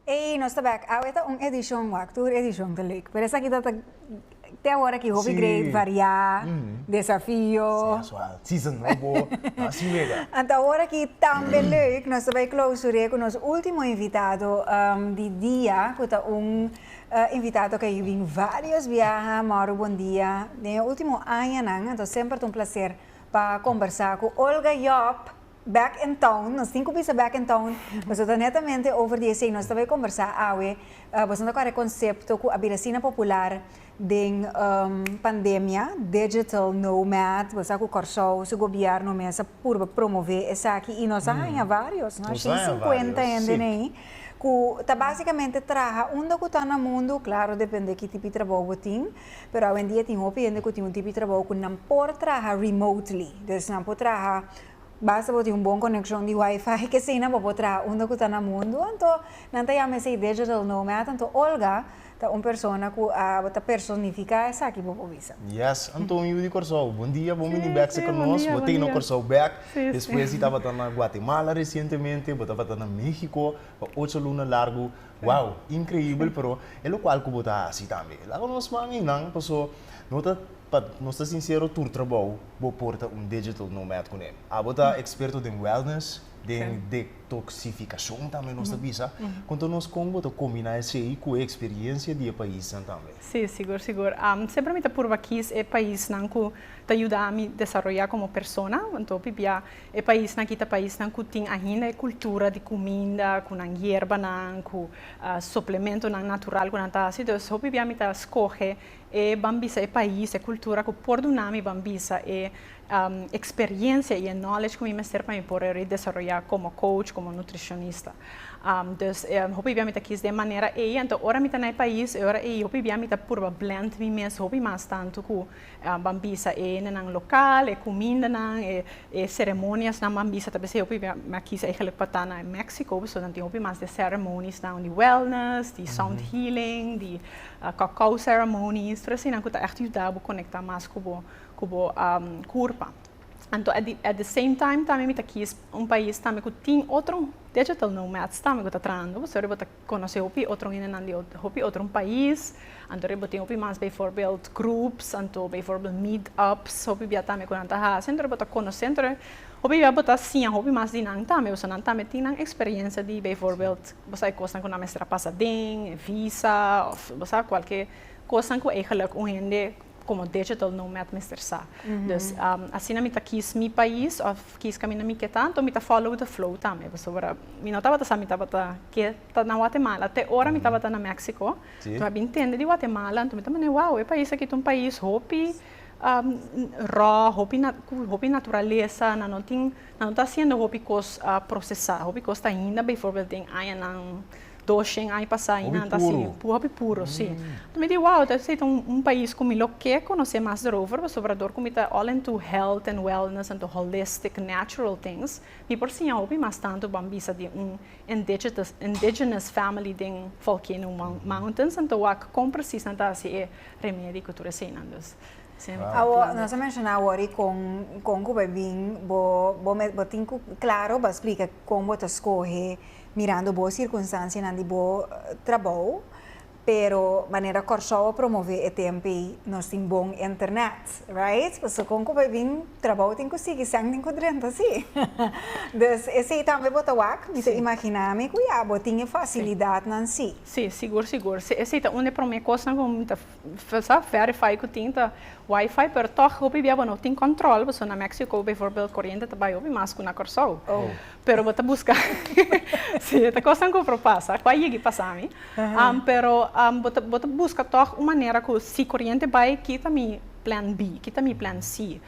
Ey, nos ta bek. Awe ta un edicion wak, tur edicion ta leuk. Pero esaki ta ta te awor aki hopi great, sí. variá, mm -hmm. desafio. Season nobo, así mega. Anta awor aki tambe leuk, nos ta bai clausuré con nos ultimo invitado um, di dia, cu ta un uh, invitado cu a bin varios biaha, Mauro Bondia, den e ultimo añanan, anto semper ta un placer. Pa combersa cu Olga Job, back in town, nos tin cu bisa back in town, boso ta netamente over di esey nos ta bay combersa awe, boso no ta cuare concepto cu a bira asina popular den pandemia, digital nomad, boso sa cu Corsou su gobierno mes a purba promove esaki y nos a haya varios, nos a shin cincuenta hende ne ayi cu ta basicamente traha unda cu ta na mundo, claro depende ki tipo di trabou bo tin, Pero awendia tin hopi hende ku tin un tipi trabou ku nan por traha remotely. Dus nan por traha, basta bo tin un bon konekshon di wifi, ke asina bo por traha unda ku ta na mundu. Anto nan ta yama esei digital nomad. Anto Olga ta un persona ku a ta personifiká esaki, bo por bisa. Yes, anto un yu di Kòrsou. Bondia, bon bini bèk sa ku nos. Bo teken no Kòrsou bèk. Despues di tabata na Guatemala resientemente, bo tabata na México pa ocho luna largu. Wow, increíbel, pero e lo cual cu bo ta haci tambe. Laga nos man y nan, paso no ta, pa nos ta sincero, tur trabou bo porta un digital nomad cu ne. Abo ta experto den wellness, den detoxificacion tambe nos ta bisa. Conta nos con bo ta combina esey cu e experiencia di e paisnan tambe. Sí, sigur, sigur. Semper mi ta purba kiss e paisnan cu ta yuda mi desaroya como persona. Anto pipia E paisnan ki ta paisnan ku tin ainda e kultura di kuminda ku nan yerbanan, ku suplementonan natural ku nan ta hasi. Entonces hopi bia mi ta skohe e ban bisa e pais, e kultura ku por duna mi ban bisa e eksperiencia i e knowledge ku mi mester pa mi por a desaroya komo coach, komo nutrishonista. Dus hopi bia mi ta kis den manera ei. Anto ora mi ta na e pais e ora ei hopi bia mi ta purba blend mi mes hopi mas tantu ku. Ban bisa e hendenan lokal, e kumindanan, e seremoniasnan ban bisa. Tal bes e hopi mi a kisa e gelijk pa ta na Mexico, pasobra nan tin hopi mas di e ceremoniesnan di wellness, di sound healing, di cacao ceremonies, tur asinan ku ta ègt yuda bo konekta mas ku bo ku bo kurpa. Anto at di at di same time tambe mi ta kis un pais tambe ku tin otro digital nomads tambe ku ta trahando bo, pasobra bo ta Conoce hopi otro hendenan di hopi otro pais, anto riba tin hopi mas bijvoorbeeld groeps, anto bijvoorbeeld meet ups, hopi bia tambe cu nan ta haci, anto riba ta conoce, anto riba hopi bia bo ta siña hopi mas di nan tambe, pasobra nan tambe tin nan experiencia di bijvoorbeeld bo sa e cosnan cu nan mester a pasa den, e visa of bo sa cualkier cosnan cu ey geluk un hende. Como digital nomad mester sa. Dus asina mi ta kies mi pais of kies caminda mi ke ta, anto mi ta follow the flow tambe. Pasobra mi no tabata sa mi tabata ke ta na Guatemala. Te ora mi tabata na Mexico, mi a bin tende di Guatemala, anto mi ta mane, wow, e pais aki ta un pais hopi raw, hopi cu hopi naturalesa, nan no tin, nan no ta haciendo hopi cos procesa, hopi cos ta hinda bijvoorbeeld den añanan. Doshen aña pasá i nan ta así, hopi puro, sí. Anto mi di, wow, ta esei ta un pais ku mi lo ke konosé mas derover, pasobra orador ku mi ta all into health and wellness, into holistic, natural things, mi por siña hopi mas tantu ban bisa di un indigitus, indigenous family den Volcano Mountains, anto wak kon presis nan ta hasi e remedi ku tur eseinan. Dus, sí. Awo, nos a menshoná wòrdu kon, kon ku bo a bin, bo, bo tin ku klaro pa splika kon bo ta skohe. Mirando bo circunstancianan di bo trabou, pero manera Kòrsou a promové e tempe ei, nos tin bon internet, right? Pasobra kon ku bo a bin trabou tin ku sigui sèn den ku drenta, si? Dus esei tambe bo ta wak? Mi ta imaginá mi ku ya, bo tin e fasilidatnan, si? Si, sigur, sigur. Esei ta un di e promé kosnan ku mi ta Sa verify cu tin ta wifi pero toch hopi bia bo no tin control pasobra na Mexico bijvoorbeeld coriente ta bai hopi mas cu na Corsou pero bo ta busca si e ta cosnan cu por pasa cu a yigi pasa mi pero bo ta busca toch un manera cu si coriente bai ki ta mi plan B ki ta mi plan C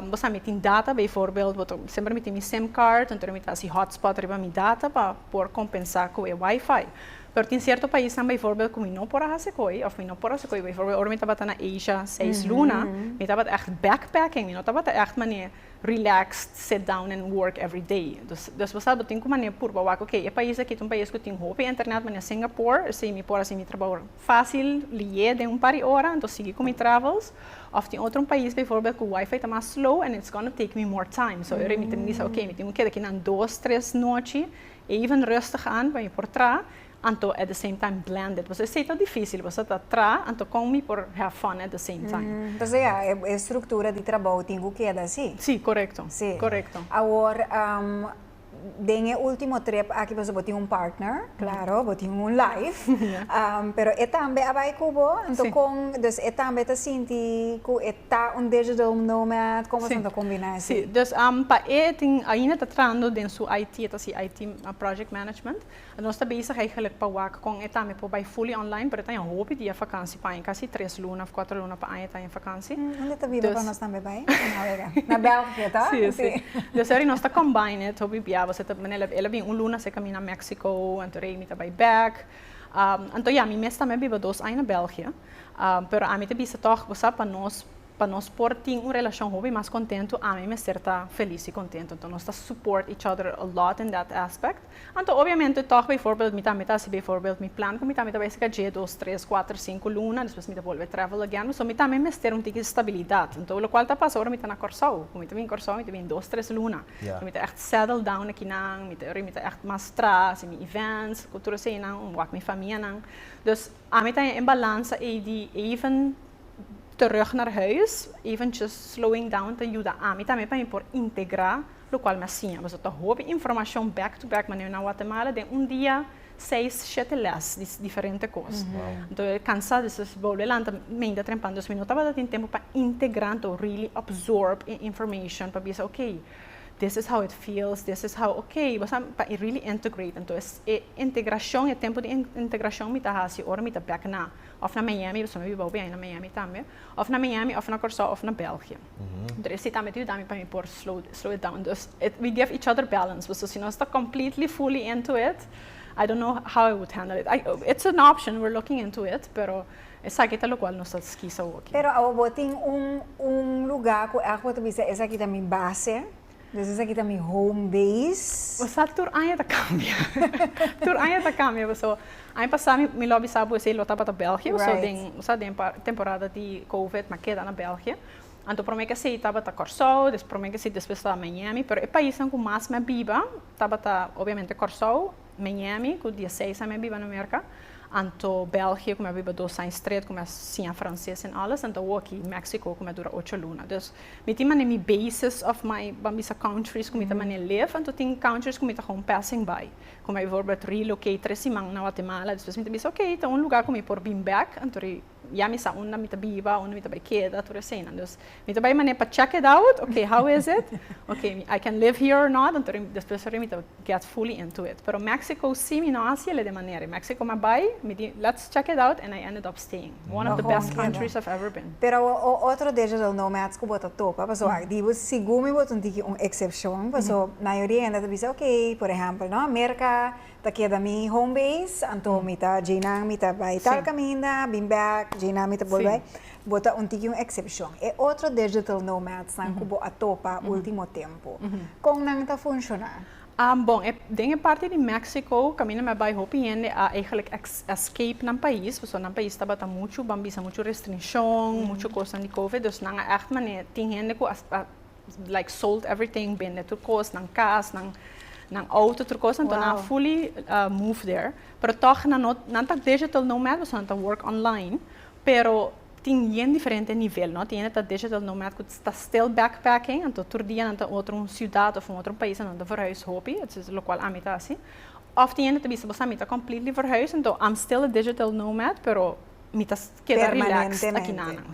bo sa mi tin data bijvoorbeeld bo ta semper mi tin mi sim card entonces mi ta haci hotspot riba mi data pa por compensa cu e wifi. Pero tin cierto paisnan bijvoorbeeld cu mi no por a hace coy, of mi no por a hace coy, bijvoorbeeld ora mi tabata na Asia seis luna, mi tabata echt backpacking, mi no tabata echt manera relaxed, sit down and work every day. Dus, despues tal bo tin cu manera purba wak, ok, e pais aki ta un pais cu tin hopi internet manera Singapore, esei mi por a haci mi trabao facil, lié den un par di ora, entos sigui cu mi travels. Of tin otro un pais bijvoorbeeld cu wifi ta mas slow and it's gonna take me more time. So, esei mi ta bisa, ok, mi tin cu keda aki nan dos, tres nochi, Even rustig aan con je por tra, anto at the same time blend it. Pasobra esey ta dificil, boso ta tra, anto con mi por have fun at the same time. Entonces ya, e structura di trabou tin cu keda así. Sí, corecto. Sí. Corecto. Awor, den e ultimo trip aki, pasobra bo tin un partner, claro, bo tin un life, pero e tambe a bay cu bo, anto con, dus e tambe ta sinti cu e Ta un dejo de un nome a como asun ta combina esi. Sí, dus pa e tin ainda ta trando den su IT, e ta haci IT project management. Nos ta bezig eigenlijk pa wak con e tambe por bay fully online, pero e ta een hopi dia vakantie pa aña, casi tres luna of cuatro luna pa aña e ta een vakantie. Hm, unde ta biba pa Dus. nos tambe bay? Na wega. Na België toch? Sí, sí. Dus ahora nos ta combine it, hopi bia boso ta, manera el a bin un luna seca mi na Mexico, anto rei mi ta bay back. Anto ya, mi mes tambe a biba dos aña na België. Pero ami ta bisa tòg, bo sa, pa nos pa nos por tin un relashon hopi mas kontentu, ami mester ta felis i kontentu. Anto nos ta support each other a lot in that aspect. Anto obviamente tòg, beivoorbeeld mi tambe ta hasi beivoorbeeld mi plan ku mi tambe ta bai esaka dje, dos, tres, kuater, sinku luna, despues mi ta bolbe travel again. So mi tambe mester un tiki stabilidat. Anto lokual ta pasa ora mi ta na Kòrsou. Ku mi ta bin Kòrsou mi ta bin dos, tres luna. Mi ta ègt settle down na kinan, mi ta mi ta ègt mas tras mi events ku tur eseinan, wak mi famianan. Dus. Ami ta en balansa ei di even terug naar huis, eventjes slowing down ta yuda ami tambe pa mi por integra lokual mi a siña. Pasobra ta hopi informashon back to back, manera na Watemala den un dia seis, shete lès di diferente kos. Anto e kansa, despues bolbe lanta meinta trempa. Anto mi no tabata tin tempu pa integra, anto really absorb e informashon pa bisa, okay. This is how it feels, this is how, ok, bo sa, pa e really integrate, entoes e integrashon, e tempo di integrashon mi ta hasi ora mi ta bek na, of na Miami, pasobra mi wou biaha na Miami tambe, of na Miami, of na Kòrsou, of na Bèlgia. Huntu esei tambe ta yuda mi pa mi por slow slow it down. Dus, we give each other balance, pasobra si nos ta completely, fully into it, I don't know how I would handle it. It's an option, we're looking into it, pero, Esaki ta lokual nos ta skisa hopi. Pero awo bo tin un un luga ku elke bo ta bisa esaki ta mi base, dus esaki ta mi home base. Bo sa tur aña ta kambia, tur aña ta kambia pasobra aña pasa mi lo a bisa bo esei lo tabata België pasobra den bo sa den temporada di covid mi a keda na België. Anto prome ke esei tabata Kòrsou, des prome ke esei despues tabata Miami, pero e paisnan ku mas mi a biba tabata obviamente Kòrsou. Miami ku dieseis aña mi a biba na Merka, anto Belgie ku mi a biba dos aña stret ku mi a siña franses en alles en awoki Mexico ku mi a dura ocho luna. Dus mi tin manera mi bases of my ban bisa countries ku mi ta manera live anto tin countries ku mi ta gewoon passing by ku mi a bijvoorbeeld relocate tres siman na Guatemala despues mi ta bisa ok ta un luga ku mi por bin back anto ri ya mi sa unda mi ta biba, unda mi ta bai keda, tur eseinan. Dus mi ta bai manera pa check it out, okay, how is it? Okay, I can live here or not? Anto rimi, despues rimi mi ta get fully into it. Pero Mexico si mi no hasi el'e den manera. Mexico mi a bai, mi di let's check it out and I ended up staying. One of the best countries I've ever been. Pero awa o otro deja del nomads ku bo ta topa, paso a di bo sigur mi bo ta un tiki un excepcion, paso mayoria hende ta bisa, okay, por ehèmpel, no, Merka Ta keda mi home base, anto mi ta djei nan mi ta bai tal kaminda, bin bèk, djei nan mi ta bolbe bai. Bo ta un tiki un eksepshon. E otro digital nomads nan ku bo a topa último tempu, kon nan ta funshoná? Bon, e den e parti di Mèksiko, kaminda mi a bai hopi hende a eigelik escape nan pais, pasobra nan pais tabata muchu, ban bisa muchu restrinshon, muchu kosnan di covid, dus nan a ègt manera, tin hende ku a like sold everything bende tur cos nan cas nan nan auto tur cos anto nan a fully move there pero tog nan no nan ta digital nomad pasobra nan ta work online pero tin bien diferente nivel no tin hende ta digital nomad cu ta still back packing anto tur dia nan ta otro un ciudad of un otro un pais anto nan ta verhuis hopi locual ami ta hasi of tin hende ta bisa bosa mi ta completely verhuis anto am still a digital nomad pero mi ta keda relax aki na nan.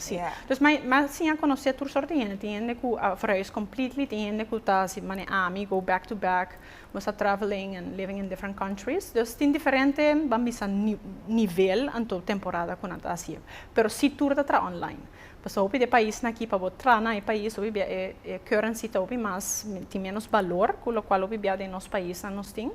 Pues mi a siña conoce tur sort di hende, tin hende cu a verhuis completely, tin hende cu ta así manera ami, go back to back, nos ta traveling and living in different countries. Pues tin diferente ban bisa nivel anto temporada cu nan ta haci'e. Pero si tur ta traha online. Pasobra hopi di e paisnan aki pa bo traha na e pais hopi bia e currency ta hopi mas tin menos balor cu locual hopi bia den nos paisnan nos tin.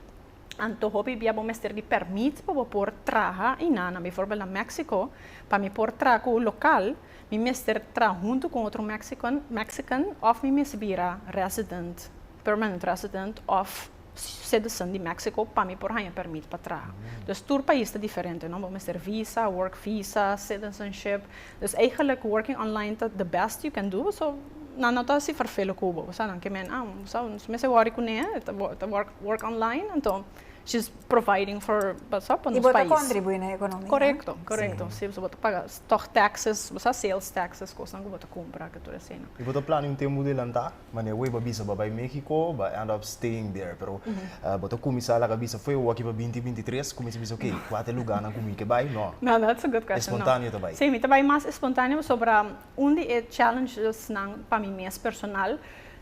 Anto hopi bia bo mester di permit pa bo por traha einan. Nan bivoorbeeld na Mexico, pa mi por traha cu un local, mi mester traha hunto cu un otro Mexican of mi mester bira resident, permanent resident of citizen di Mexico pa mi por haya permit pa traha. Dus tur pais ta diferente, no? Bo mester visa, work visa, citizenship. Dus eigenlijk working online ta the best you can do so nan no ta si vervelen cu bo, bo sa nan ke men ah bo sa nos mester worry cune e ta ta work work online anto she's providing for bo sa pa nos pais. Y bo ta contribui na economia. Correcto correcto si bo ta paga stock taxes bo sa sales taxes cosnan cu bo ta cumpra cu tur eseinan. Y bo ta plania un tempo delanta? Mane away bo a bisa bo a bai Mexico, bo a end up staying there. Pero bo ta cuminsa laga bisa fue awaki pa binti, binti tres, cuminsa bisa ok, cua ta e lugarnan cu mi ke bai? No. No, no, that's a good question. No. Espontaneo ta bai. Sí, mi ta bai mas espontaneo pasobra un di e challengesnan pa mi mes personal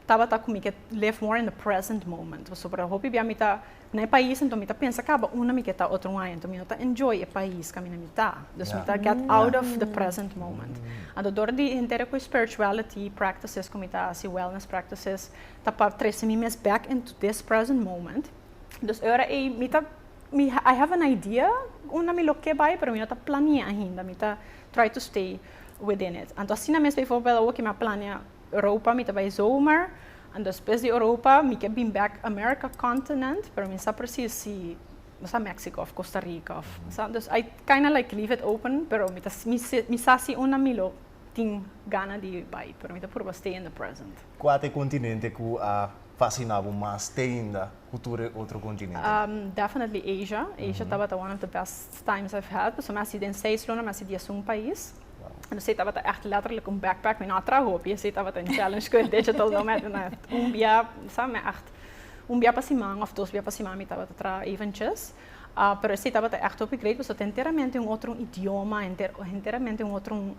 tabata cu mi ke live more in the present moment. Pasobra hopi bia mi ta Na e pais anto mi ta pensa caba una mi ke ta otro un aña anto mi no ta enjoy e pais ca mi na mi ta dus mi ta get out of the present moment anto door di henter cu e spirituality practices cu mi ta haci wellness practices ta pa trece mi mes back into this present moment dus e ora ey mi ta mi I have an idea unda mi lo ke bay pero mi no ta planie ainda mi ta try to stay within it anto asina mes bijvoorbeeld awo ke mi a plania Europa mi ta bai zomer and despues di Europa mi ke bin back America continent pero mi sa precies si mi sa Mexico of Costa Rica of sa dus I kinda like leave it open pero mi ta mi sa si unda mi lo tin gana di bai pero mi ta purba stay in the present. Kua ta e continente ku a fascina bo mas teinda ku tur e otro continente? Definitely Asia, Asia tabata one of the best times I've had pasobra mi a si den seis luna mi a si dies un pais. nos e tabata ègt lètterlik un backpack, mi no a traha hopi, esei tabata un challenge ku e teacher ta duna mi. Una, un bia, sa, mi ègt, un bia pa siman òf dos bia pa siman mi tabata traha eventjes. Pero esei tabata ègt hopi great pasobra ta enteramente un otro idioma, enter, enteramente un otro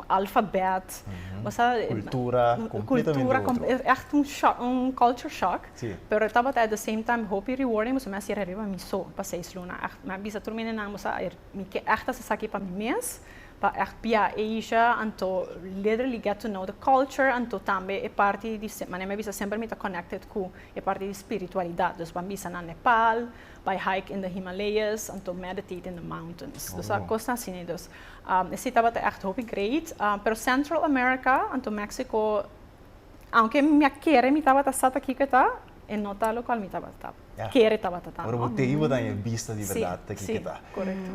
alfabèt, bo sa. Kultura kompletamente otro. Ègt un shock, un culture shock. Sí. Pero tabata at the same time hopi rewarding pasobra mi a sera riba mi so pa seis luna. Ègt, mi a bisa tur mi nenan, bo sa, Mi ke ègt hasi esaki pa mi mes, pa ègt bia e isha, anto literally get to know the culture, anto tambe e parti di, manera mi a bisa semper mi ta connected ku e parti di spiritualidat. Dus ban bisa na Nepal, bai hike in the Himalayas, anto meditate in the mountains. Dus a kosnan asina. Dus e si tabata ègt hopi great. Pero Central America, anto Mexico, aunke mi a kere mi tabata sa ta kiko e ta, e no ta lokual mi tabata kere tabata ta. Ora bo tei bo ta haya bista di berdad ta kiko ta.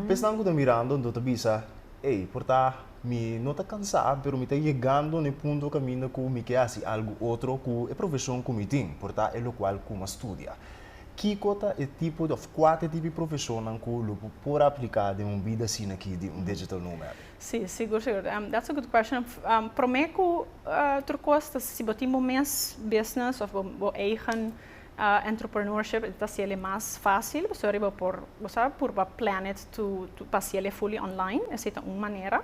Pe esnan ku ta mirando enton ta bisa, ey, por ta mi no ta kansa, pero mi ta yegando na e punto kaminda ku mi ke hasi algu otro ku e profesion ku mi tin, por ta e lokual ku mi a studia. Kiko ta e tipo di òf kua te tipo di profesionnan ku lo bo por aplika den un bida asina aki di un digital nomad? Sí, sigur sigur. That's a good question. Promé ku otro kos ta si bo tin bo mes business òf bo eigen entrepreneurship e ta siel e mas fásil pastori bo por bosabi por bo a plan it pa siel e fully online esei ta un manera.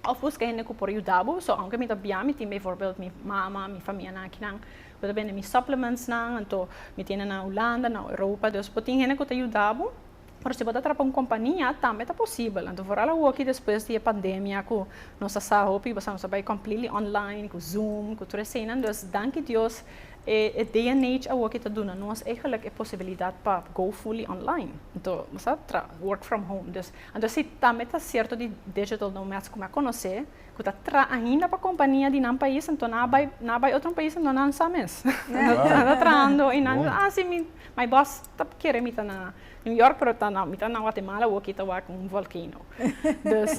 Òf buska hende ku por yuda bo so aunke mi ta bia mi tin bivoorbeeld mi mama, mi famia akinan ku ta bende mi supplements nan anto mi tene na Hulanda, na Europa, dus bo tin hende ku ta yuda bo. Pero si bo ta traba un kompania tambe ta posibel, anto foral awoki despues di e pandemia ku nos a sa hopi kos a nos a bai completely online ku zoom ku tur eseinan dus danki Dios e day and age awoki ta duna nos eigenlik e posibilidat pa go fully online anto bo sa tra work from home dus anto si tambe ta sierto di digital nomads ku mi a konosé ku ta tra ainda pa kompania di nan pais anto nan a bai nan a bai otro pais anto nan sa mes nan ta trahando i nan a si mi my boss. Ta kere mi ta na New York pero ta na mi ta na Guatemala wak y ta wak un volcano dus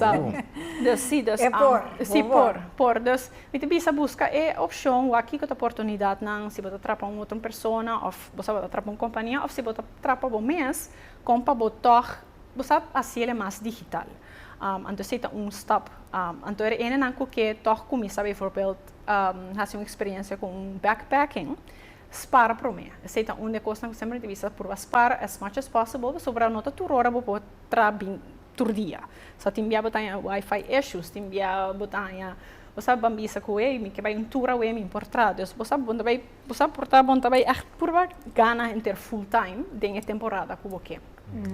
dus si dus E por si por por dus mi ta bisa busca e opcion wak kico ta portunidad nan si bo ta trapa un otro persona of bo sa bo ta trapa un compania of si bo ta trapa bo mes con pa bo tog bo sa haciele mas digital anto esey ta un stap anto e ene nan cu ke tog cuminsa bijvoorbeeld haci un experiencia con un backpacking Spara promé. Esei ta un di e kosnan ku semper mi ta bisa, purba spara as much as possible pasobra ora no ta tur ora bo por traha bin tur dia. So tin bia bo ta haña wifi issues, tin bia bo ta haña, bo sa ban bisa ku ey mi ke bai un tur awe mi por traha. Dus bo sa bon ta bai, bo sa por ta bon ta bai ègt purba gana henter full time den e temporada ku bo ke.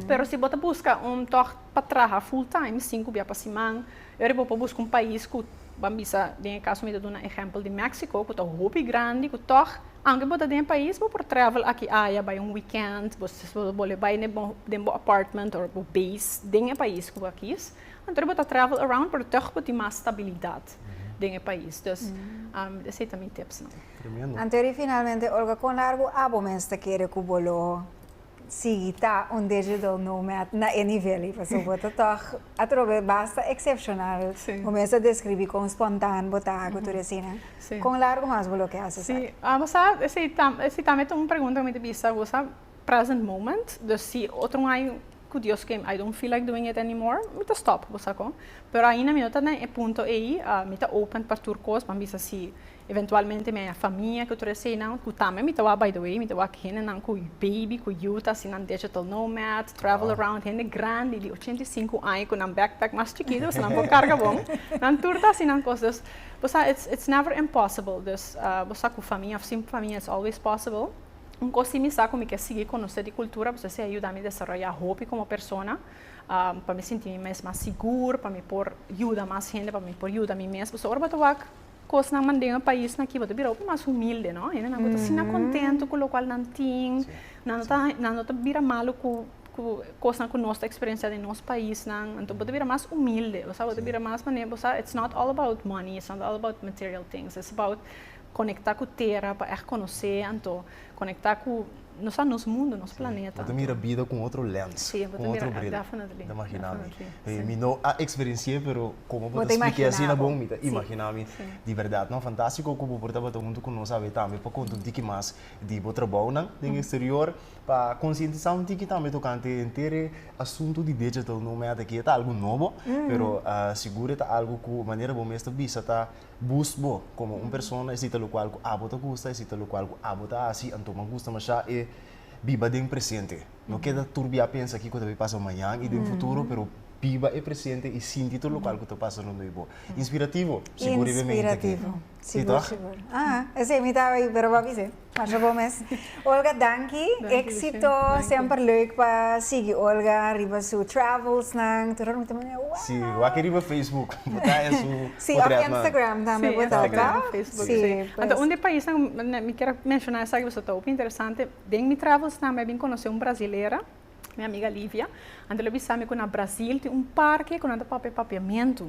Pero si bo ta buska un tòg pa traha full time sin ku bia pa siman, Ora bo por busca un pais cu ban bisa den e caso mi ta duna ehempel di Mexico cu ta hopi grandi cu tog aunke bo ta den e pais bo por travel aki aya bay un weekend bo bo bole bay den bo apartment or bo base den e pais cu bo a kies anto bo ta travel around pero tog bo tin mas stabilidad den e pais dus esey ta mi tipsnan. Anto di finalmente olga con largo abo mester kere cu bo loho? sigui ta un digital nomad na e nivel ei pasobra bo ta tòg atrobe basta excepcional bo mes a describi con spontan bo ta cu tur asina con largo mas bo lo ke hasi sa. Ese ta un pregunta cu mi ta bisa bo sa present moment dus si otro un año cu Dios ken I don't feel like doing it anymore mi ta stop bo sa con pero ainda mi no ta den e punto ei mi ta open pa tur cos mi a bisa si Eventualmente mi a ya famia cu tur eseynan cu tambe mi ta wak by the way, mi ta wak hendenan cu y baby cu yu ta asina digital nomads, travel around, hende grandi di ochenta y sinku aña cu nan backpack mas chikito pasobra nan por carga bon, nan tur ta asina cos dus bo sa it's it's never impossible dus bo sa cu famia of sin famia it's always possible. Un cos si mi sa cu mi ke sigui conoce di cultura pasobra esey a yuda mi desaroya hopi como persona pa mi sinti mi mes mas sigur pa mi por yuda mas hende pa mi por yuda mi mes pasobra ora bo ta wak Kosnan mande na paisnan kiba ta bira hopi mas humilde, no? Hendenan ku ta asina kontento ku lokual nan tin, nan no ta nan no ta bira malu ku ku kosnan ku nos ta eksperensiá den nos paisnan. Anto bo ta bira mas humilde, bo sa, bo ta bira mas manera bo sa it's not all about money, it's not all about material things, it's about konektá ku tera pa ègt konosé. Anto Conecta cu nos a nos mundo, nos planeta. Bo ta mira bida cu otro lens, cu otro bril. Ta imagina mi. Mi no a experienci'e pero como bo ta spliki'e asina bon, mi ta imagina mi. Di berdad no, fantastico cu bo por tabata hunto cu nos awe tambe pa conta un tiki mas di bo trabounan den exterior, pa concientisa un tiki tambe tocante henter e asunto di digital. No me a taki e ta algo nobo pero sigur e ta algo cu manera bo mes ta bisa ta Bus bo komo un persona e sita lokual ku abo ta gusta, e sita lokual ku abo ta hasi, anto mi a gusta mashá e biba den presente. No keda turbiá pensa kiko ta por pasa mañan i den futuro, pero biba e presente i sinti tur lokual ku ta pasa rond di bo. Inspirativo? Siguriblemente ke si. Inspirativo, sigur sigur. Esei mi tabata ahí pero bo a bis'e. Marcia Gomez. Olga danki, exito, semper leuk pa sigui Olga riba su travels nan, tur horan bo ta manera wow. Si, wak riba Facebook bo ta haña su potret nan. Si, of Instagram tambe bo ta ta. Si, pues. Anto un di e pais nan mi kier a menshona esaki pasobra ta hopi interesante, den mi travels nan mi a bin konosé un brasilera. Mi amiga Livia anto lo bisa mi ku na Brasil tin un parke ku nan ta papia papiamentu.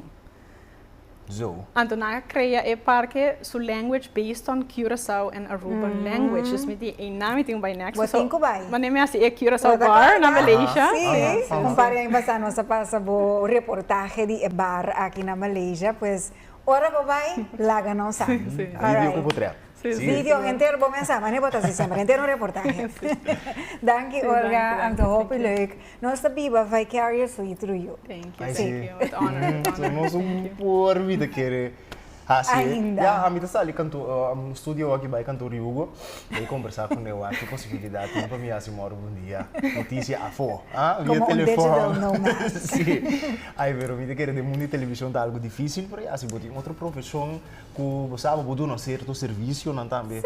Zo. Anto nan a krea e parke su language based on Curaçao and Aruba language. Dus mi di einan mi tin ku bai next. Bo tin ku bai. Wanneer mi a hasi e Curaçao bar na Malaysia. Si, un par di aña pasá nos a pasa bo reportahe di e bar aki na Malaysia, pues ora bo bai laga nos sa. Video ku bo trèk. Video henter bon mensah mane bo ta si semper henter un reportahe danki Olga anto hopi leuk nos ta biba vicariously through you. Nos un por vida kere hasi ya ami ta sali studio aki bai kantoor di Hugo bai kombersa ku neo aki posibilidat tin pa mi hasi morro un dia notisia afo via telefòn ai pero mi ta kere den mundo di televishon ta algu difisil por hasi bo tin otro profeshon Ku bo sa bo por duna sierto servisionan tambe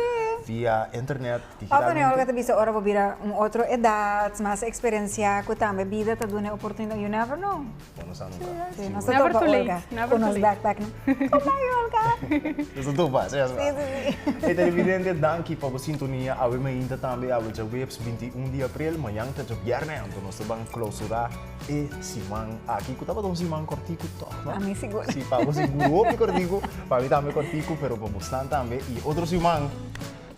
via internet, digitalmente. Òf anyway, bo ta bisa ora bo bira un otro edat, mas eksperensiá, ku tambe bida ta dun'e oportunidad, you never know. Bo no sa nunka. Sí, nos ta topa Olga ku nos bèk bèk nan. Goodbye Olga! Nos ta topa, sí mesbra. Sí, sí, sí. Hey televidente, danki pa bo sintonia. Awe mainta tambe, awe djaweps binti un di april. Mañan ta djabièrnè, anto nos ta ban klausurá. e siman aki ku tabata un siman kortiku tòg, no? Pa mi sigur. Si pa bo sigur hopi kortiku, pa mi tambe kortiku pero pa bosnan tambe i otro siman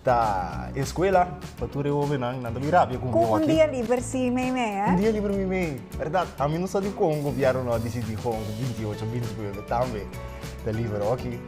ta e skuela pa tur e hobennan, nan ta bin rapia ku mi aki. Ku un dia liber si meimei, eh? Un dia liber meimei, bèrdat. Ami no sa di kon gobièrnu no a disidí kon ku binti ocho, binti nuebe tambe ta liber oki.